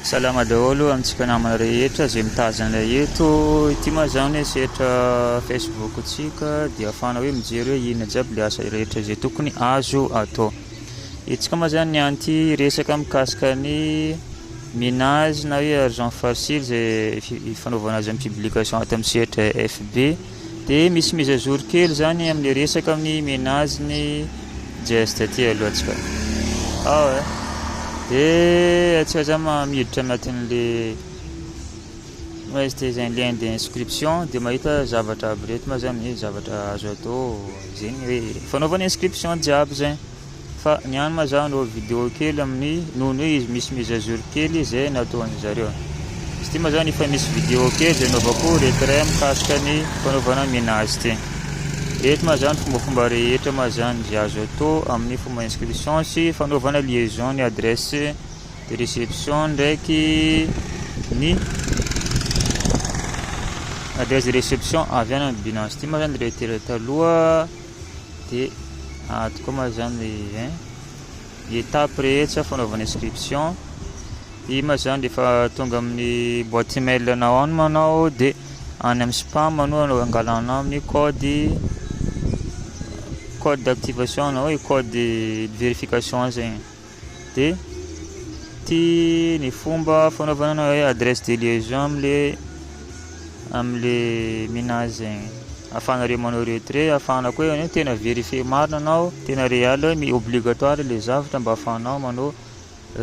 Salama daholo amintsika namana rehetra izay mitazana ilay eto, ity moa izany hoe sehatra Facebook tsika dia afahana hoe mijery hoe inona jiaby ilay asa rehetra izay tokony azo atao. Itsika moa izany niany ity resaka mikasika ny minage na hoe argent facile izay fanaovana azy amin'ny publication ato amin'ny sehatra FB. Dia misy mise à jour kely zany amin'ny resaka amin'ny menazy ny Jest aty aloha tsika. Ao eh. Dia atsika zany ma- miditra anatin'le Jest izay lien d'inscription dia mahita zavatra aby reto ma zany hoe zavatra azo atao zegny hoe fanaovana inscription jiaby zegny. Fa ny any ma zah nanao video kely amin'ny nono hoe izy misy mise à jour kely izay nataon'ny zareo. Izy ty ma zany efa misy video kely izay naovako retrait mikasika ny fanaovana mina azy ty. Eto ma zany fombafomba rehetra ma zany izay azo atao amin'ny fomba inscription sy fanaovana liaison ny adresse de reception ndraiky ny adresse de reception avy any amin'ny binance ty ma zany retrait taloha. de ato koa ma zany le hein ny étape rehetra fanaovana inscription i ma zany rehefa tonga amin'ny boîte email anao any manao de any amin'ny spam anao anao angalanao amin'ny code code d'activation anao hoe code de verification zegny dia ity ny fomba fanaovana hoe adresse de liaison amin'le amin'le minage zegny ahafahanareo manao retrait ahafahana koa hoe tena vérifier marina anao tena réel hoe mi- obligatoire le zavatra mba ahafahanao manao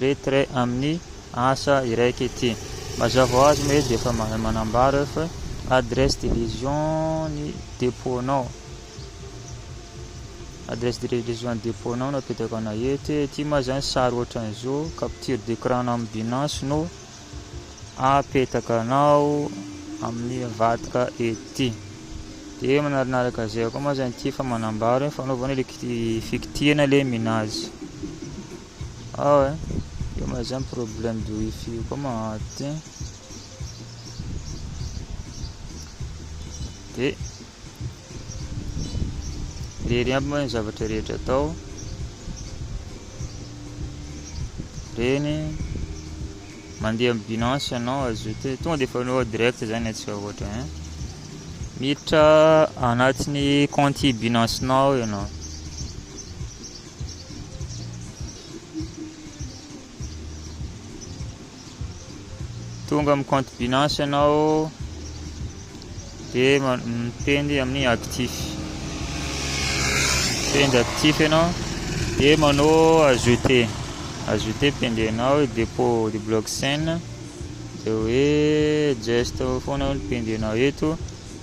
retrait amin'ny asa iraika ity mazava ho azy moa izy dia efa ma- manambara hoe fa adresse de liaison ny dépôt-nao Adresse de livraison ny dépôt nao no apetako ana eto e ty ma zany sary ohatran'izao capture d'écran na amin'ny binance no apetaka anao amin'ny avadika ety de manaraka izay koa ma zany ty efa manambara hoe fanaovana le fikitihana le minazy ao e eo ma zany problème de wifi koa maty de Irery aby moa ny zavatra rehetra atao. Reny mandeha amin'ny binance ianao azote tonga dia fanao direct zany atsika ohatra hein miditra anatin'ny compte binance nao ianao Tonga amin'ny compte Binance ianao dia miteny amin'ny actif. Miteny actif ianao dia manao ajouter. Ajouter pendenao dépôt de blockchain dia hoe just foana ny pendenao eto.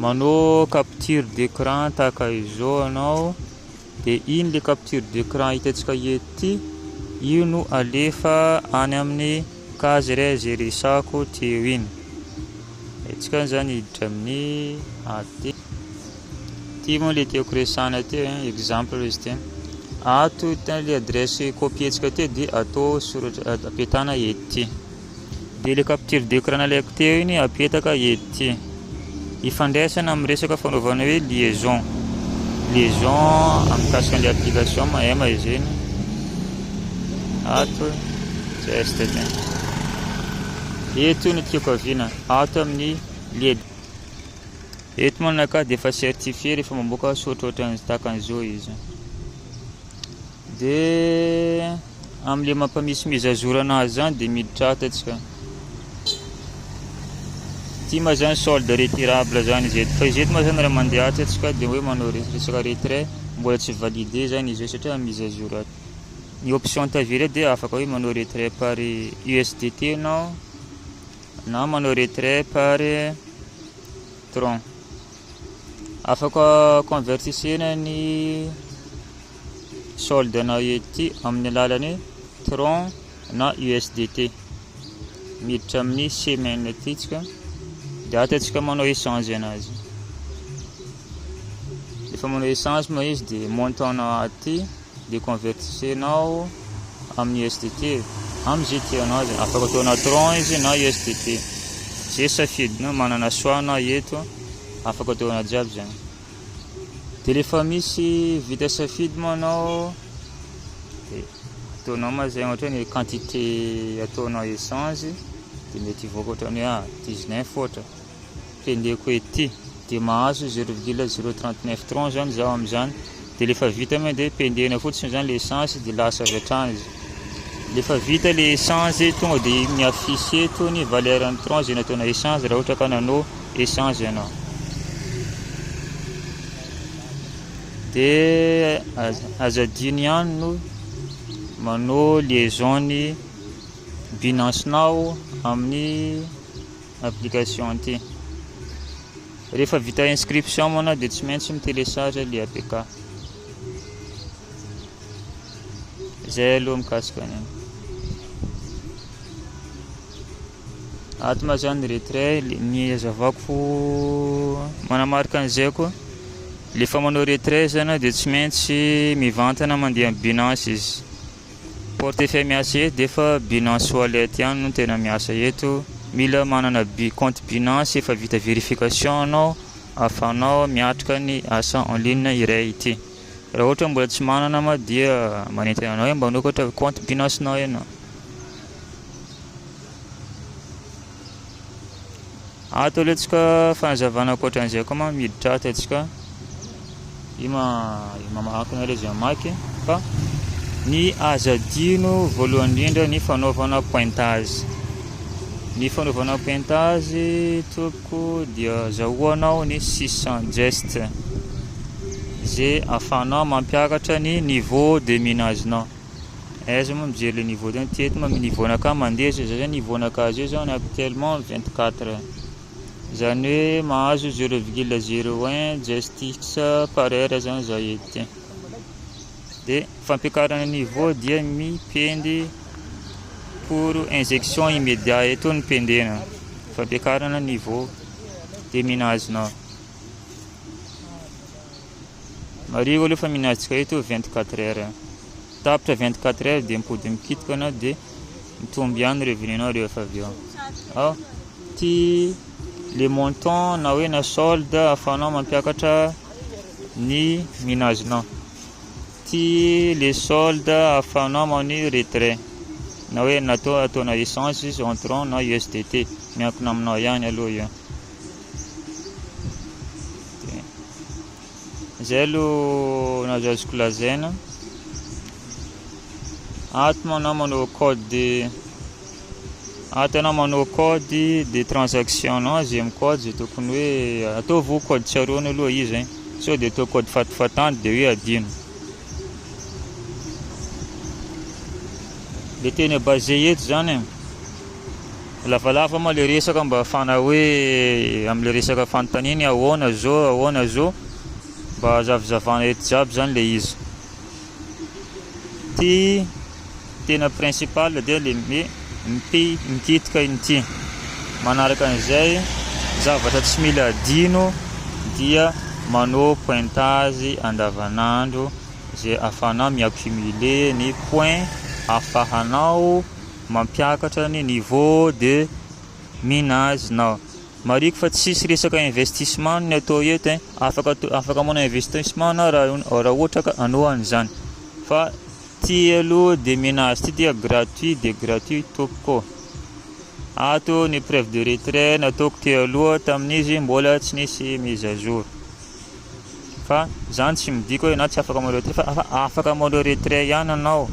Manao capture d'écran tahaka izao ianao dia iny le capture d'écran hitantsika eto ity io no alefa any amin'ny case re izay resako teo iny antsika izany hiditra amin'ny AT ity moa le tiako resana teo hein, exemple izy ity ato le adresse copientsika teo dia atao soratra apetana ety Dia ilay capture d'écran nalaiko teo iny apetaka ety. Ifandraisana amin'ny resaka fanaovana hoe liaison. Liaison amikasika an'ilay application mahay maizeny. Ato test dia. Eto ny tiako aviana. Ato amin'ny led. Eto manaka dia efa certifié rehefa mamoaka sotrotra takan'izao izy. Dia amin'ilay mampamisimisy zazorana azy zany dia miditra ato atsika. Ity ma zany solde retirable zany izy eto. Fa izy eto ma zany raha mandeha atsy atsika dia hoe manao resaka retrait mbola tsy validé zany izy eo satria misy zazoro ato. Ny option tavela dia afaka hoe manao retrait par USDT ianao na manao retrait par tron. Afaka convertissena ny solde na UET amin'ny alalan'ny Tron na USDT miditra amin'ny semaine atsika dia ato atsika manao échange anazy efa manao échange ma izy dia montant na aty dia convertisenao amin'ny USDT amin'izay tianao azy afaka atao na Tron izy na USDT zay safidinao manana soana eto afaka atao na jiaby zany Dia rehefa misy vita safidy moa anao dia ataonao ma zay ohatra ny quantité ataonao échange dia mety hivoaka ohatra ny hoe 19 ohatra kendeko ety dia mahazo 0,039 tron zany zaho amin'izany dia rehefa vita moa dia pendehina fotsiny zany le échange dia lasa avy hatrany izy Rehefa vita ilay échange, tonga dia mi-affiche eto ny valeur ny tranche izay nataonao échange raha ohatra ka nanao échange ianao. Dia azo adino ihany no manao liaison ny Binance-nao amin'ny application ity. Rehefa vita inscription moana dia tsy maintsy mi-télécharge ilay APK. Zay aloha mikasika an'iny. Ato ma zany retrait ny hazavako fo manamarika an'izay koa le fa manao retrait zany dia tsy maintsy mivantana mandeha amin'ny Binance izy. Portefeuille miasa eto dia efa Binance Wallet ihany no tena miasa eto. Mila manana bi compte Binance efa vita verification anao ahafahanao miatrika ny asa en ligne iray ity. Raha ohatra hoe mbola tsy manana ma dia manentana anao hoe mba anokatra compte binance nao ianao. Ato aloha tsy ka fanazavana ankoatran'izay koa ma miditra ato tsy ka io ma mamahankina ilay izay mamaky fa ny aza dino voalohany indrindra ny fanaovana pointage ny fanaovana pointage to Ko dia zahoanao ny six cent gestes ze afahanao mampiakatra ny niveau de minage nao. Aiza moa mijery le niveau tena ty eto ma niveau nakah mandeha zao za zany niveau nakah zao zany actuellement vingt quatre zany hoe mahazo zero virgule zero un gestes par heure zany za eto ty. Dia fampiakarana niveau dia mipendy pour injection immédiat eto ny pendena fampiakarana niveau dia minazina mariho aloha fa minazika eto 24 heures tapitra 24 heures dia mipody mikitika na dia mitombo ihany revenu nao rehefa avy eo ao ty le montant na hoe na solde afanao mampiakatra ny minazinao ty le solde ahafahanao mani retrait na hoe natao ataona essence izy entrant na USDT miankina aminao ihany aloha io zay aloha nazo azoko lazaina ato manao manao code Ah tena manao code de transaction non zay mi code zay tokony hoe ataovy ho code tsaroany aloha izy hein sao de atao code fatifatany de hoe adino le tena base eto zany e lavalava moa le resaka mba afana hoe amle resaka fanontaniany ahoana zao ahoana zao mba azavizavana eto jiaby zany le izy Ity tena principal dia le me mpi mikitika inty. Manaraka an'izay, zavatra tsy mila adino dia manao pointage andavanandro zay ahafahanao mi-accumuler ny point ahafahanao mampiakatra ny niveau de minage-nao. Marihiko fa tsisy resaka investissement ny atao eto eh. Afaka afaka manao investissement anao raha raha ohatra ka anao an'izany. Fa ty aloha dia mena azy ty dia gratuit dia gratuit tompoko ô. Ato ny preuve de retrait nataoko teo aloha tamin'izy mbola tsy nisy mise à jour. Fa zany tsy midika hoe ianao tsy afaka manao retrait fa afaka manao retrait ihany ianao.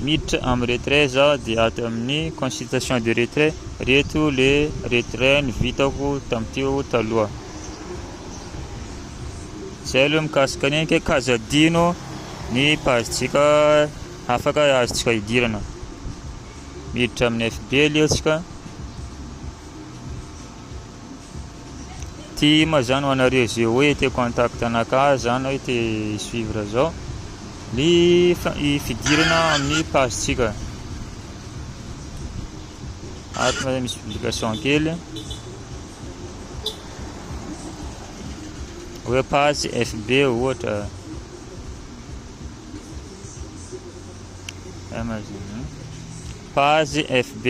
Miditra amin'ny retrait zaho dia ato amin'ny consultation de retrait reto le retrait ny vitako tamin'iteo taloha. Zay aloha mikasika ny ke kaza dino ny pazitsika afaka azontsika hidirana. Miditra amin'ny FB aloha tsika. Ty ma zany ho anareo ze hoe te contact anaka zany hoe te suivre zao ny fidirana amin'ny page tsika ato na misy publication kely hoe page fb ohatra amazon page fb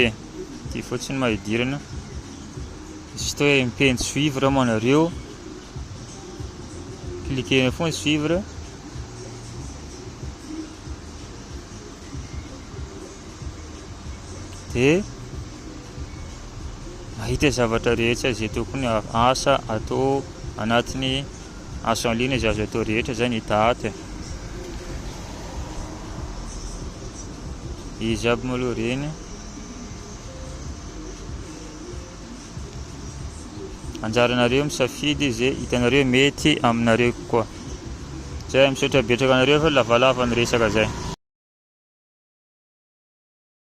ty fotsiny ma hidirana juste hoe miteny suivre moa nareo cliquer eo foana suivre de mahita zavatra rehetra izay tokony asa atao anatiny asa en ligne izay azo atao rehetra zay ny date izy aby moa aloha reny anjaranareo misafidy ze hitanareo mety aminareo kokoa zay misaotra betraka anareo fa lavalava ny resaka zay